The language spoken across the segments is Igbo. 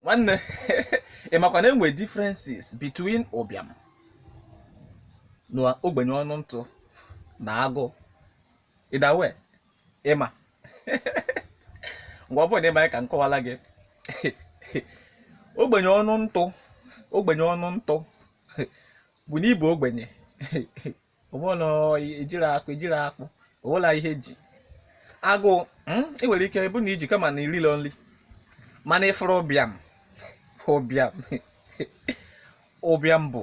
nwanne ị makwa na enwe differences between ụbịam na ogbenye ọnụ ntụ na agụụ ịdawe ịma ngwa ọ bụrụ na ịma ya ka m kọwara gị ogbenye ọnụ ntụ ogbenye ọnụ ntụ bụ na ịbụ ogbenye ụgbọla ejiri akpụ ejiri akpụ ụgbọla ihe ji agụụ mm, ị nwere ike bụ na iji kama na ililọ nri mana ịfụrụ ụbịam ụbịam ụbịam bụ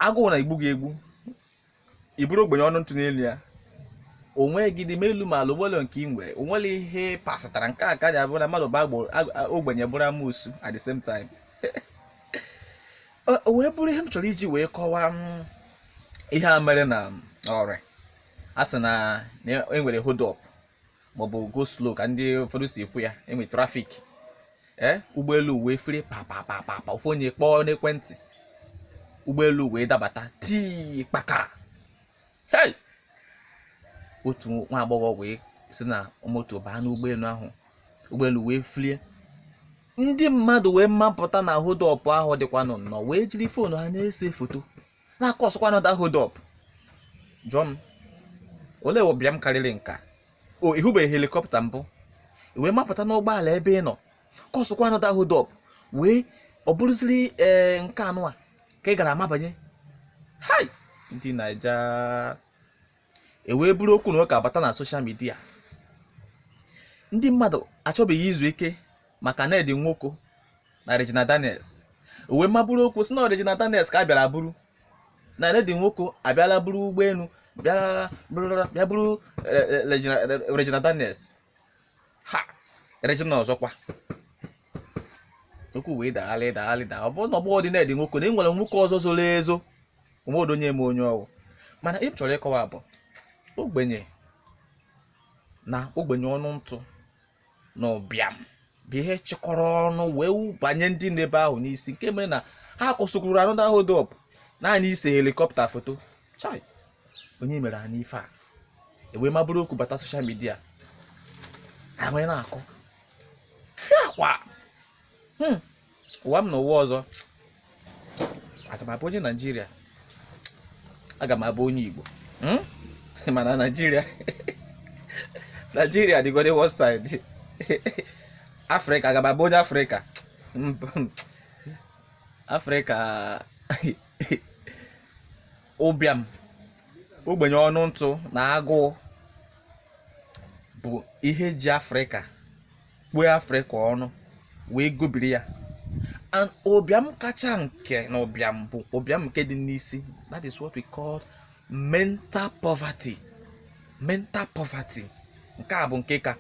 agụụ na-egbu gị egbu ị bụrụ ogbenye ọnụ ntụ n'elu ya onweghịdị ma elu ma ala onwere nke ị nwere onwere ihe pasịtara nke a ka ji abụ na mmadụ bụ agbo- ag- ogbenye bụrụ amusu at the same time Ọ- o wee bụrụ ihe m chọrọ iji wee kọwaa ihe a mere na Ore a sị na na e nwere hold up maọbụ go slow ka ndị ụfọdụ si ekwu ya enwe trafik ee ụgbọelu wee fere papapapapa ofu onye kpọọ n'ekwentị ụgbọelu wee dabata tii kpaka hei otu nwa agbọghọ wee si na moto baa n'ụgbọelu ahụ ụgbọelu wee felie ndị mmadụ wee mapụta na hold up ahụ dịkwanụ nnọọ wee jiri foonu ha na-ese foto na-akọsụkwa another hold up jụọ m olee ụbịam karịrị nke a o ịhụbeghị helikọpta mbụ i wee mapụta n'ụgbọala ebe ị nọ kọsụkwa another hold up wee ọ bụrụziri ee nke anụwa ka ị gara amabanye hai ndị naija e wee buru okwu na ụka bata na soshal midia ndị mmadụ achọbeghị izu ike maka Ned Nwoko na Regina Daniels e wee maburu okwu sị na ọ Regina Daniels ka a bịara buru na Ned Nwoko abịala buru ụgbọelu bịara bịara- bịa buru eh, eh, Regina- Regina Daniels ha Regina ọzọkwa okwu wee dagharị dagharị da ọ bụrụ na ọ bụghịdị Ned Nwoko na e nwere nwoke ọzọ zoro ezo onwedo onye ma onye ọ wụ mana ihe m chọrọ ịkọwa bụ ogbenye na ogbenye ọnụ ntụ na ụbịam bụ ihe chịkọrọ ọnụ wee banye ndị nọ ebe ahụ n'isi nke mere na ha kọsụkwuru another hold up naanị ise helikọpta foto chai onye mere anyị ife a e wee maburu okwu bata soshal midia ahụ na-akọ fiakwa hmm. ụwa m na ụwa ọzọ aga m abụ onye naijiria aga m abụ onye igbo hmm? mana naijiria naijiria dịgode one side afrịka aga m abụ onye afrịka afrịka ụbịam ogbenye ọnụ ntụ na agụụ bụ ihe ji afrịka kpuo afrịka ọnụ wee gobiri ya and ụbịam kacha nke na ụbịam bụ ụbịam nke dị n'isi that is what we call mental poverty mental poverty nke a bụ nke ka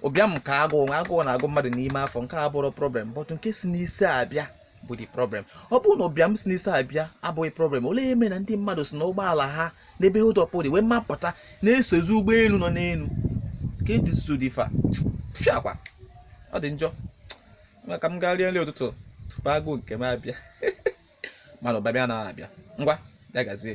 ụbịam nke agụụ agụụ na-agụ mmadụ n'ime afọ nke a bụrụ problem but nke si n'isi abịa bụ the problem ọ bụrụ na ụbịam si n'isi abịa abụghị problem olee ihe mere na ndị mmadụ si na ụgbọala ha n'ebe hold up dị wee mapụta na-esozi ụgbọelu nọ n'elu ka ndị so dị fa fiakwa ọ dị njọ Ngwa ka m gaa rie nri ụtụtụ tupu agụụ nke m abịa mana ụbịam na-abịa ngwa ya gazie